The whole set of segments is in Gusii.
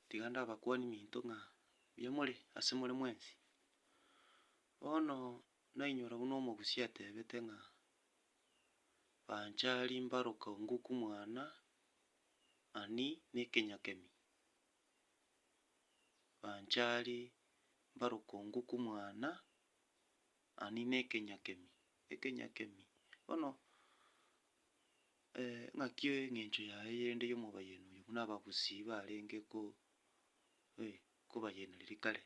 Tiga ndabakwanie minto ng'a mbuya more ase more mwensi. Bono nainyora buna omogusia atebete ng'a, Banchari mbaroke ongoku mwana ani na ekenyakemi, banchari mbaroke ongoku mwana ani na ekenyakemi, ekenyakemi. Bono ng'aki engencho yaye erinde y'omobayeni oyo buna abagusii barenge ko- eh kobayena riria kare.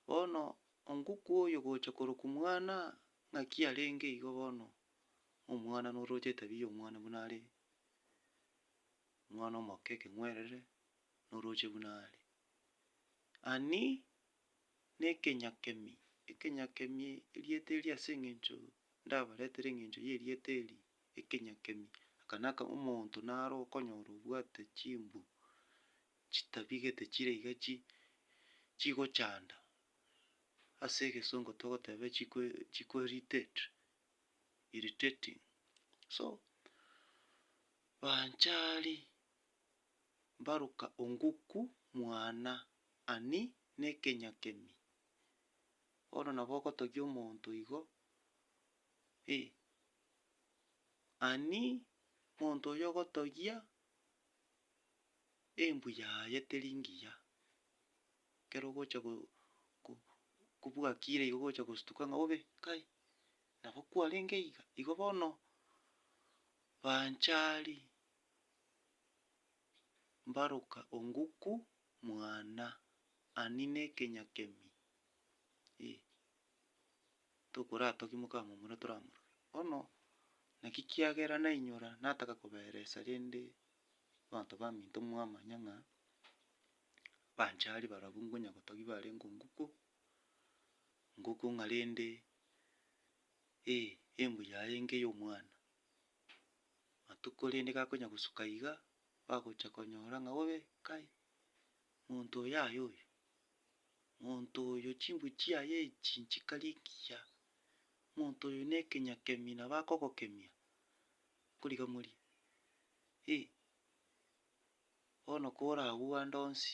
Bono onguku oyo gocha korokwa mwana, ng'aki arenge igo bono, omwana noroche etabia ya omwana buna are, omwana omoke ekeng'werere, noroche buna are. Ani. nekenyakemi, ekenyakemi erieta eria ase eng'encho ndabaretere eng'encho y'erieta eri, ekenyakemi, aka naka omonto naro okonyora obwate chimbu chitabigete chire iga chi chigochanda, ase egesongo togoteba chiko chiko irritate, irritating. So, banchari mbaroka onguku mwana ani nekenyakemi. Bono nabo ogotogia omonto igo, eh, ani monto oyo ogotogia embu yaye teri ngiya, ekero ogocha go- go- kobuga kire igo ogocha gostuka ng'a bobe, kai, nabo kwarenge iga. Igo bono banchari mbaroka onguku mwana ani nekenyakemi e tokoratoki mokamomura toramorore bono naki kiagera nainyora nataka koberesa rende abanto baminto mwamanya ng'a banchari barobwo nkonya gotogia barenge onguku nguku ng'a rende e embu yaye nka eyomwana. matuko rende gakonya gosuka iga, bagocha konyora ng'a obe kai, monto oyo aye oyo, monto oyo chimbwe chiaye echi nchikari engiya, monto oyo ne ekenya kemi nabo akogokemia, nkori gamorie, Hii, bono kore agwo ande onsi.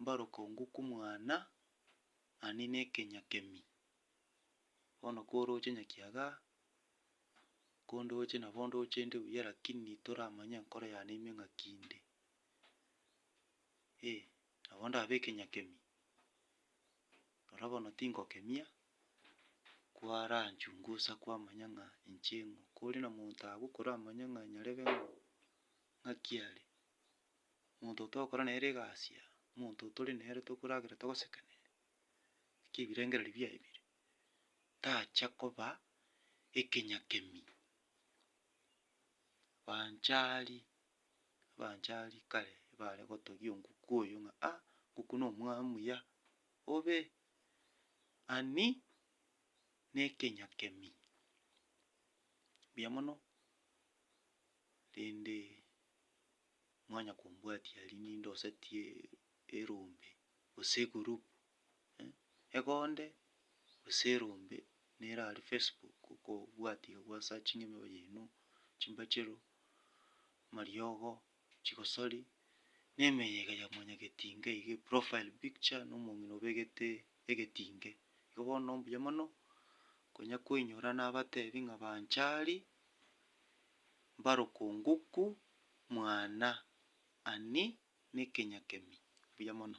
mbarokongu kw'omwana ani nekenyakemi. Bono koroche nyakiaga, kondoche nabo ndoche inde buya lakini toramanya enkoro yane ime ng'aki inde. Eh, nabo ndabe ekenyakemi, rora bono tingokemia, kwaranchungusa kwamanya ng'a inche ng'o. Kore na monto agwo koramanya ng'a nyarebe ng'o, ng'aki are, omonto oyio togokora nere egasi aa, omonto oyio tore nere tokoragera togosekaniri, naki ebirengererio biaye bire, tacha koba ekenyakemi. Banchari, abanchari kare bare gotogia onkuku oyio ng'a ah, onkuku na omwaa muya, obe ani na ekenyakemi, mbuya mono. Rende mwanya kombwatia aria ninde osetie erombe gose egroup, egonde gose erombe nere aria facebook okobwati iga gwa searchinge emioyo yaino, chimbachero, amariogo, chigosori, na emeyo iga ya mwanyagetinga iga eprofile picture na omong'ina obegete egetinge. Igo bono mbuya mono, konya koinyora nabatebi ng'a bancha aria, mbarokongoku mwana ani nekenyakemi. Buya mono.